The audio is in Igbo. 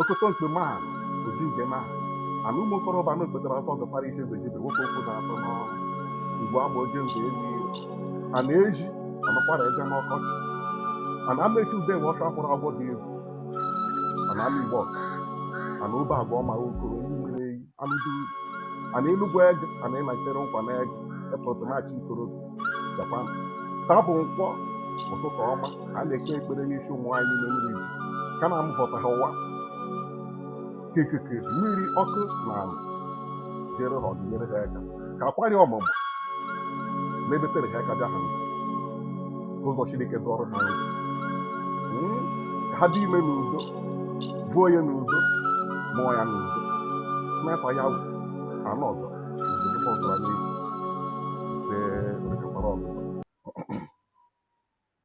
Okoto nke maha oji nke maha ana ụmụ okorobịa na okpetara afọ ọzọ kpara ike zejibe nwoke okwu na atọ n'ọrụ ugwu agba oje nze elu a na-eji anakwara eze n'ọkọchị ana Amechi ube nwe ọta hụrụ agwọ dị egwu ana Amaigbo ana obe agwa ọma okoro iyi mmiri eyi Alụduru ana Enugu ege ana ịnachere nkwa n'ege efọtụ maachị ikorobi jakwa taa bụ nkwọ ụtụtụ ọma a na-ekpe ekpere n'isi ụmụ nwaanyị dị ime mmiri ka na amụpụta ha ụwa ka ikuku mmiri ọkụ na ala jere ha ozi nyere ha aka ka akwarị ọmụmụ ma ebetere ha aka bịa ha ụzọ Chineke dọrọ ha ka ha dị ime n'udo buo ya n'udo mụọ ya n'udo mmefa ya wụ anụ ọzọ ozugbo ọzọ